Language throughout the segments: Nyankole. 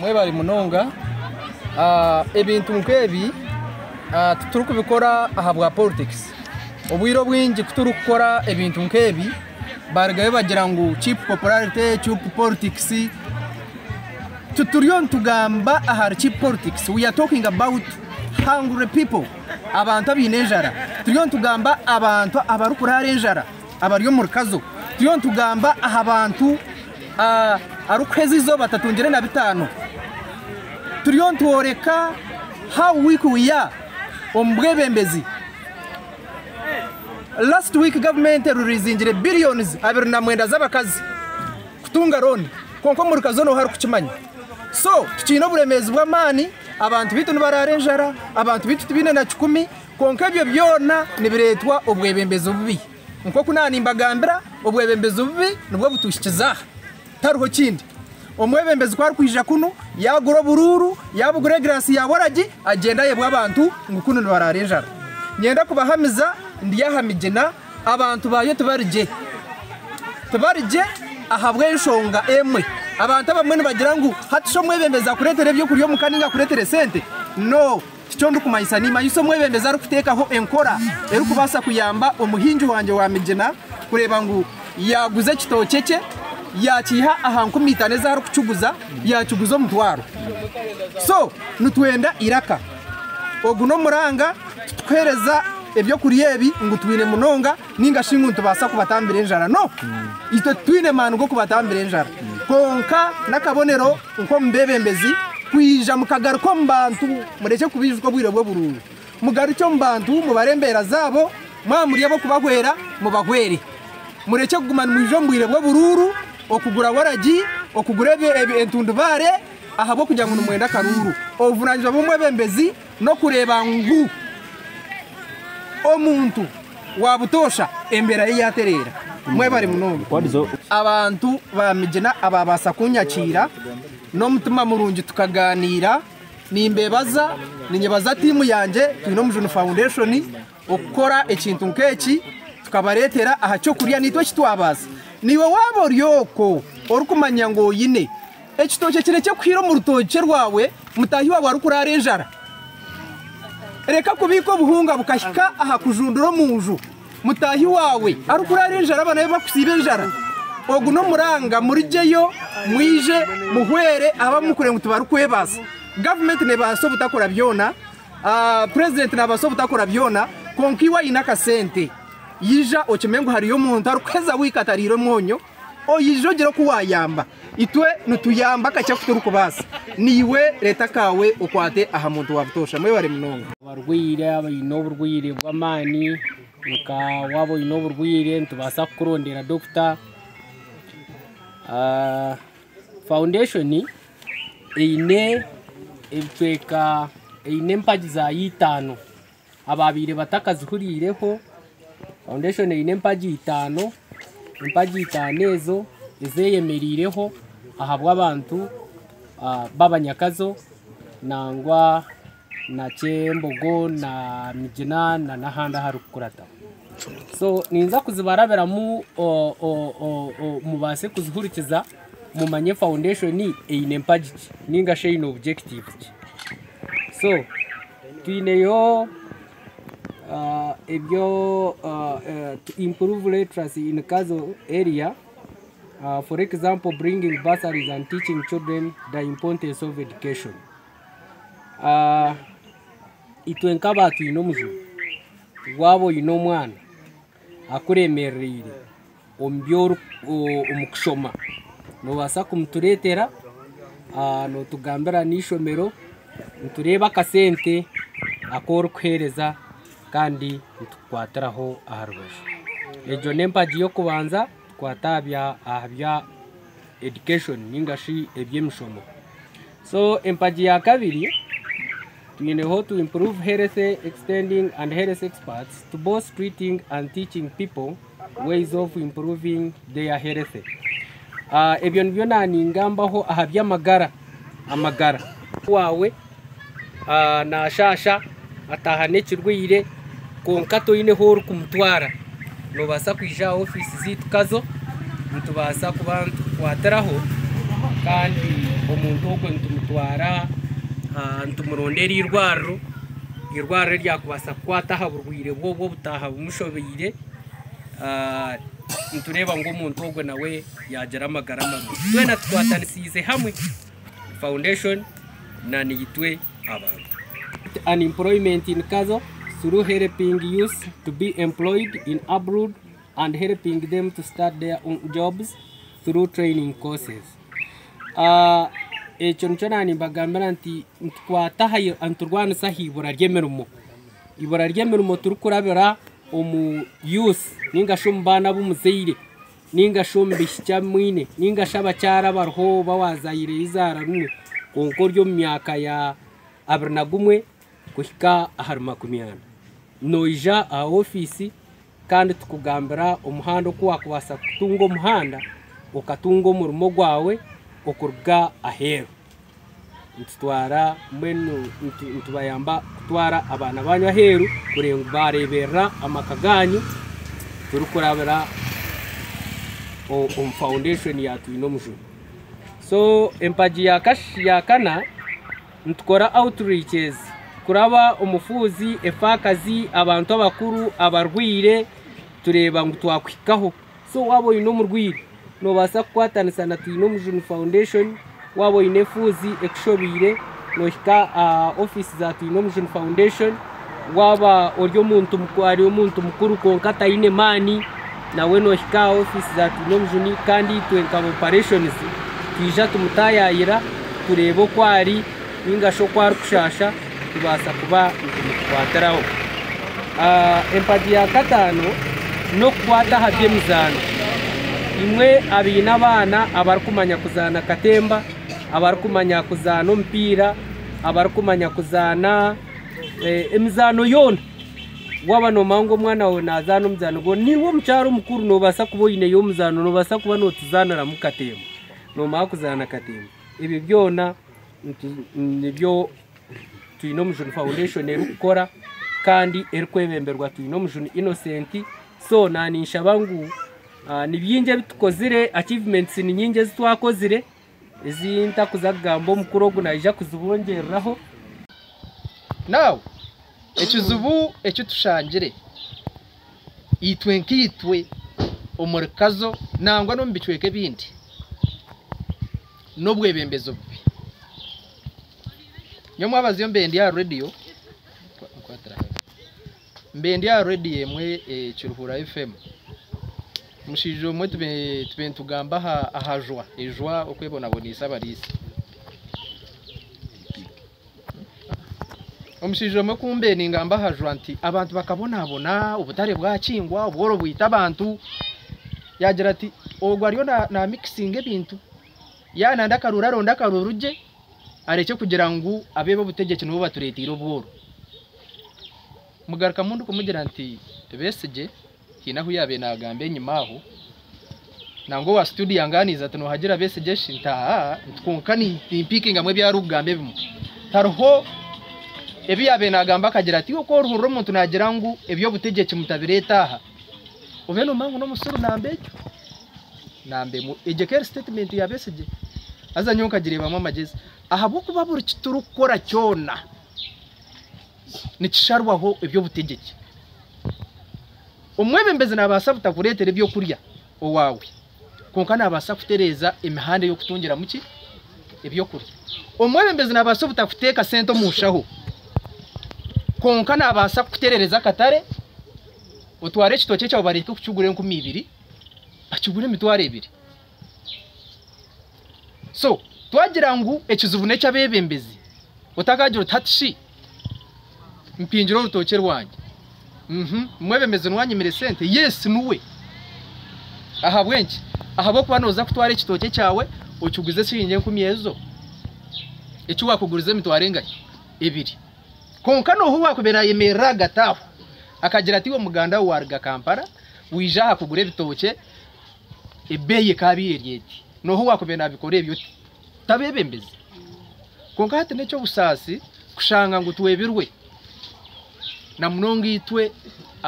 Mwebare munonga. Ebintu nk'ebi titurikubikora ahabwa poritekisi. Obwire obwingi ku turikukora ebintu nk'ebi baarugayo baagira ngu chipu popularite, chipu poritekisi. Tituriyo nitugamba ahari chipu poritekisi, turiyo nitwogira abahanguri, hungry people, abantu abaine enjara. Turiyo nitugamba abantu abarikuraara enjara abari omu rukazo. Turiyo nitugamba aha bantu. arikuheza eizooba atatungire na bitaano turiyo nitworeka how weak we are omu bwebembezi. Last week gavumenti eruriizingire billions abiri na mwenda z'abakazi kutunga loan kwonka omuri ka zoona ou harikukimanya. So tukiine oburemeezi bw'amaani, abantu baitu nibaraara enjara, abantu baitu tibaine na kikumi kwonka ebyo byona nibireetwa obwebembezi obubi. Nk'oku naaba nimbagambira, obwebembezi obubi nibwo butuhikize aha. Tariho kindi. Omwebembezi ku arikwija kunu, yaagura oburuuru, yaabugura egiraasi ya waragi, agyenda ayebwa abantu ngu kunu nibaraara enjara. Niinyenda kubahamiza ndi aha migina, abantu baayo tibari gye. Tibari gye ahabw'enshonga emwe. Abantu abamwe nibagira ngu hati shi omwebembezi akureetera eby'okurya omuka nainga akureetera esente? No! Tikyo ndikumanyisa. Niimanyisa omwebembezi arikuteekaho enkora erikubaasa kuyamba omuhingi wangye wa migina kureeba ngu yaaguza ekitookye kye, yaakiiha aha nkumi itaano ezi arikukiguza, yaakiguza omutwaro. So, nitwenda eiraka. Ogu n'omuranga, titikuheereza eby'okurya ebi ngu twine munonga. Ninga shi ngu nitubaasa kubatambira enjara? No! Itwe titwine maani g'okubatambira enjara. Kwonka n'akabonero nk'omu beebembezi kwija mukagaruka omu bantu, murekye kubaijuka obwire bw'oburungu. Mugarukye omu bantu, mubare embeera zaabo, mwaba muri ab'okubahwera, mubahwere. Murekye kuguma nimwija omu bwire bw'oburuuru, okugura waragi, okugura entundubaare, ahabw'okugira ngu nimwenda akaruuru. Obuvunaanyizibwa bw'omwebembezi N'okureeba ngu omuntu wa butoosha embeera ye yaatereera. Mwebare munonga. Abantu ba Migina abaabaasa kunyakiira n'omutima murungi tukagaaniira. Nimbeebaza, ninyebaza tiimu yangye, Twine Omujuni Foundation, Okukora ekintu nk'eki tukabareetera aha ky'okurya naitwe eki twabaasa. Naiwe waaba ori okwo orikumanya ngu oine ekitookye kirekye kuhire omu rutookye rwawe mutaahi waawe arikurwara enjara, reka kubiika obuhunga bukahika aha kujundura omu nju mutaahi waawe arikurwara enjara abaana be bakusiiba enjara. Ogu n'omuranga murigeyo mwije muhwere abu murikureeba ngu tibarikwebaasa. Gavumenti neebaasa obutakora byona. Purezidenti naabaasa obutakora byona, kwonka iwe aine akasente yaija okimanye ngu hariyo omuntu arikuheza week atariire omwonyo, oije ogire oku waayamba. Itwe nituyamba akakye aku turikubaasa. Naiwe reeta akaawe okwate aha muntu wa butoosha. Mwebare munonga. Abarwaire abaine oburwaire bw'amaani, nka waaba oine oburwaire nitubaasa kukurondeera dokita. Foundation. Eine ebicweka, eine empagi zaayo itaano. Abaabaire batakazihuriireho, foundation eine empagi itaano, empagi itaano ezo ezeeyemereireho ahabw'abantu b'abanyakazo nangwa na kyembogo na migina na n'ahandi ahari kukurata so ninza kuzibarabiramu mubaase kuzihurikiza mumanye foundation eine mpagi ki ninga shi eine objective ki so twineyo ebyo to improve literacy in kazo area for example bringing bursaries and teaching children the importance of education. Itwe nk'abantu twine omuju, waaba oine omwana akuremerereire omu kushoma noobaasa kumutureetera nootugambira n'eishomero nitureeba akasente aku orikuheereza kandi nitukukwatiraho aha rubaju. Egyo n'empagi y'okubanza kukwata aha bya education ninga shi eby'emishomo. So empagi ya kabiri twine how to improve health extending and health experts to both treating and teaching people ways of improving their health Ah, ebyo nibyo naningambaho aha by'amagara amagara wawe ah, nashasha ataaha n'ekirwaire kwonka toine ahu orikumutwara, noobaasa kwija aha ofiisi zaitu Kazo nitubaasa kuba nitukukwatiraho kandi omuntu ogwo nitumutwara nitumuronda eirwariro, eirwariro eryakubaasa kukwata aha burwaire bwe obwo obutaaha bumushobeire nitureeba ngu omuntu ogwo nawe yaagira amagara marungi. Twena tukwatanisiize hamwe. Foundation na Nitwe Abantu. Unemployment in Kazo through helping youth to be employed in abroad and helping them to start their own jobs through training courses. Ah, ekyo nikyo nani mbagambira nti nitukwata aha niturwanisa aha ibura ry'emirimo ibura ry'emirimo turikurabira omu youth ningashi omu baana b'omuzaire Ninga shi omu bishikya bi mwine ninga shi abakyara abariho oba wazaire eizaara rimwe kwonka ori omu myaka ya abiri na gumwe kuhika ahari makumi ana, noija aha ofiisi kandi tukugambira omuhanda oku wakubaasa kutunga omuhanda okatunga omurimo gwawe okuruga aheeru. nitutwara mbwenu nitubayamba kutwara abaana banyu aheeru bareeberera amaka gaanyu turikurabira omu foundation ya twine omujura so empagi ya kana nitukora outreaches kuraba omufuuzi efaakazi abantu abakuru abarwaire tureeba ngu twakuhikaho So waaba oine omurwaire, noobaasa kukwatanisa na Twine Omujuni Foundation. Waaba oine efuuzi ekushobeire, noohika aha ofiisi za Twine Omujuni Foundation. Waaba ori omuntu ari omuntu mukuru kwonka ataine maani, nawe noohika aha ofiisi za Twine Omujuni kandi itwe nka ba Operations twija tumutaayaayira tureebe oku ari nainga shi oku arikushaasha. nitubaasa kuba nitugikwatiraho. Empagi ya kataano n'okukwata aha by'emizaano. Imwe abaine abaana abarikumanya kuzaana katemba, abarikumanya kuzaana omupiira, abarikumanya kuzaana eh, emizaano yoona waba nomanya ngu omwana wawe nazaana omuzaano gwo niiwe omukyara omukuru nobaasa kuba oineyo omuzaano nobaasa kuba notuzaaniramu katemba nomanya kuzaana katemba ebyo byona Nibyo twine omujuni foundation erikukora kandi erikwebemberwa twine omujuni Innocent so naninshaba ngu ah, nibyingi ebitukozire achievements ni nyingi ezitwakozire ezi ntakuza kugamba omukuru ogu naija kuzibongyereraho now ekizibu ekitushangire itwe nkaitwe omuri kazo nangwa n'omu bicweka ebindi n'obwebembezi obubi. Nyowe mwabaza mbere ndi aha radiyo, mbere ndi aha radiyo emwe Kiruhura FM, omushaija omwe tube nitugamba aha jwa, ejwa okwebonaboneise abariisa. Omushaija omwe kumbeninga mbahajwa nti abantu bakabonabona obutare bwakingwa obworo bwita abantu yagira ati ogu ariyo na mixinga ebintu yaba nade akaroori aronde akaroori gye arekye kugira ngu abebe obutegyeki nibo batureteire obworo. Mugarukamu ndikumubwira nti Besigye Haine ahu yaabaire naagamba enyima aho, nangwa owa situdiyo yangaaniize ati, Noohagira Besigye shi? Nti, Haa, nti kwonka nimpiikingamu ebi arikugamba ebimwe. Hariho ebi yaabaire naagamba akagira ati, Iwe ku orihurira omuntu naagira ngu eby'obutegyeki mutabireeta aha, obaire noomanya ngu n'omusiru namba ekyo, namba emwe. Egyo ekaba eri sitetimenti ya Besigye. Haza nyowe nkagireebamu amagyezi. Ahabw'okuba buri ki turikukora kyona. nikisharwaho eby'obutegyeki. Omwebembezi naabaasa butakureetera eby'okurya owaawe, kwonka naabaasa kutereeza emihanda ey'okutungiramu ki? Eby'okurya. Omwebembezi naabaasa obutakuteeka sente omu nshaho, kwonka naabaasa kukutereereza akatare, otware ekitookye kyawe bareeke kukigura enkumi ibiri, bakigure emitwaro ebiri. So twagira ngu ekizibu n'eky'abeebembezi, otakaagira oti hati shi mpingire orutookye rwangye? Uhmm omwebembezi niwe anyimire esente? Yes niwe. Ahabw'enki? Ahabw'okuba nooza kutwara ekitookye kyawe okiguze shiringi enkumi ezo, eki waakugurize emitwaro engahi? Ebiri. Kwonka n'oha owaakubaire ayemerire ahagati aho akagira ati iwe muganda we waaruga Kampala waija aha kugura ebitookye Ebeeyi ekaabaire eri eti, n'oha owaakubaire naabikora ebyo oti? Tabeebembezi? Kwonka hati n'eky'obusaasi kushanga ngu twebirwe, na munonga itwe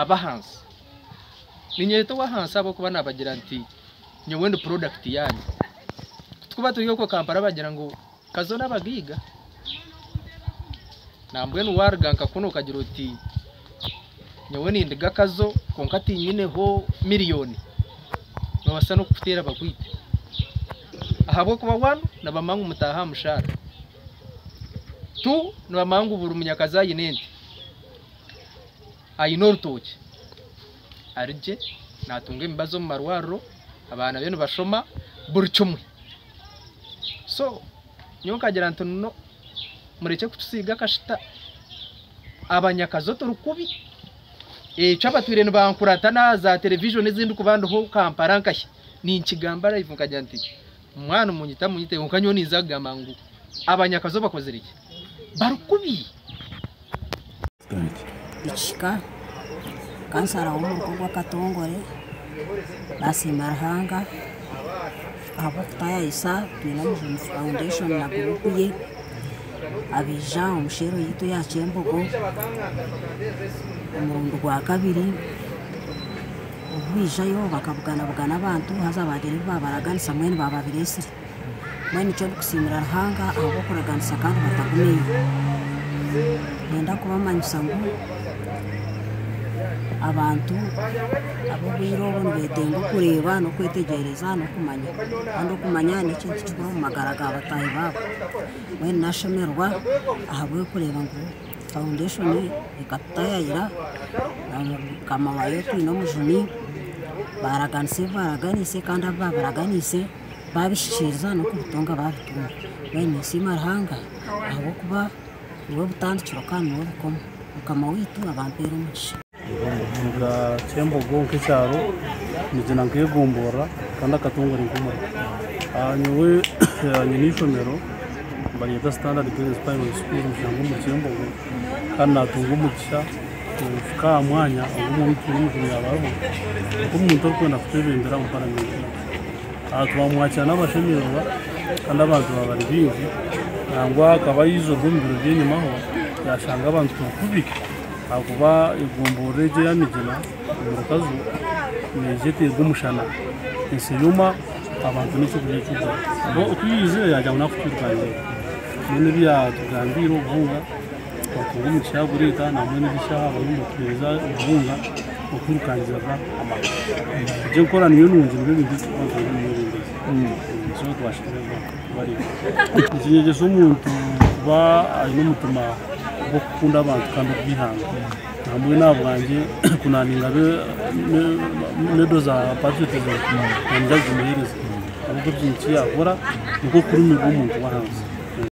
ab'ahansi. Niinyeyeta ow'ahansi ahabw'okuba naabagira nti, Nyowe ndi purodakiti yaanyu. Tikuba turi okwo Kampala bagira ngu, Omukazi onu abagaiga nambwenu waruga nka kunu okagira oti nyowe nindiga akazo kwonka tinyineho million nibabasa nokukutera bakwite ahabwokuba one nibamanya ngu mutaha aha mushara two nibamanya ngu buri munyakazi aine ente aine orutookye arigye natunga emibazi omu marwariro abaana be nibashoma buri kimwe. so nyowe nkagira nti no murekye kutusiiga akashita abanyakazo turi kubi ekyo abatwire nibankurata na za television ezindi kuba ndiho Kampala nkahi ninkigamba live nkagira nti mwana omunyita munyite kwonka nyowe ninza kugamba ngu abanyakazo bakozire ki bari kubi ekihika kansaraho omuruka ogwakatongore nasiima ruhanga ahabwokutayayisa twine omujuni foundation na group ye abaija omu shell yaitu eya kyembogo omurundi gwakabiri obubaija yo bakabuganabugana abantu haza bagira ebi babaraganisa mbwenu bababira esiri mbwenu nikyo ndikusiimira Ruhanga ahabw'okuraganisa kandi batagumiire nenda kubamanyisa ngu abantu ab'obwire obu nibetenga okureeba n'okwetegyereza n'okumanya kandi okumanya n'ekintu kikuru omu magara ga bataahi baabo mbwenu nashemererwa ahabw'okureeba ngu fawundeshoni ekatutayaayira na mukama waayo twine omujuni baraganisa ebi baraganise kandi abu baburaganise babihikiriza n'okubutunga babutunga mbwenu ninsiima Ruhanga ahabw'okuba niwe butandikiro kandi niwe bukomo mukama waitu abampere omugisha. Ekicweka ky'embogo nk'ekyaro nigira nk'egomborora kandi akatongore nk'omurimo nyowe nyine eishomero nibaryeta standard girls primary school omu kyembogo. kandi natunga omugisha kuhika aha mwanya ogu Omwoiki w'Omujuni yaaba ariho nk'omuntu orikwenda kutwebembera omu Paramenti egi. Aha twamwakira n'abashemererwa kandi abantu baaba bari baingi nangwa akaba aija obwe omu biro by'enyimaho yashanga abantu turi kubi ahakuba egomborora egi eya Migina omurukazu neija eterwa omushana esiriima abantu n'eky'okurya ekihuzire. Ku yaija yagira ngu naakutwirukanirayo. Mbwenu ebyaatugambiire obubunga twatunga omu kishaaha guriita nambwenu egi shaaha bariyo nibatuheereza obubunga okwirukangiraga amaka. Egi enkora niyo nungi nibyo bintu ebi turikubaasa kugira omu mwebembezi. So twashemererwa kubareeba. Nikinyegyesa omuntu kuba aine omutima gw'okukunda abantu kandi ogw'eihanga. Nambwenu aha bwangye ku naaninga be- me- medo za patriotism, naanye ndazimuheereza ahabw'okugira ngu eki yaakora nikwo kurumiirwa omuntu w'ahansi.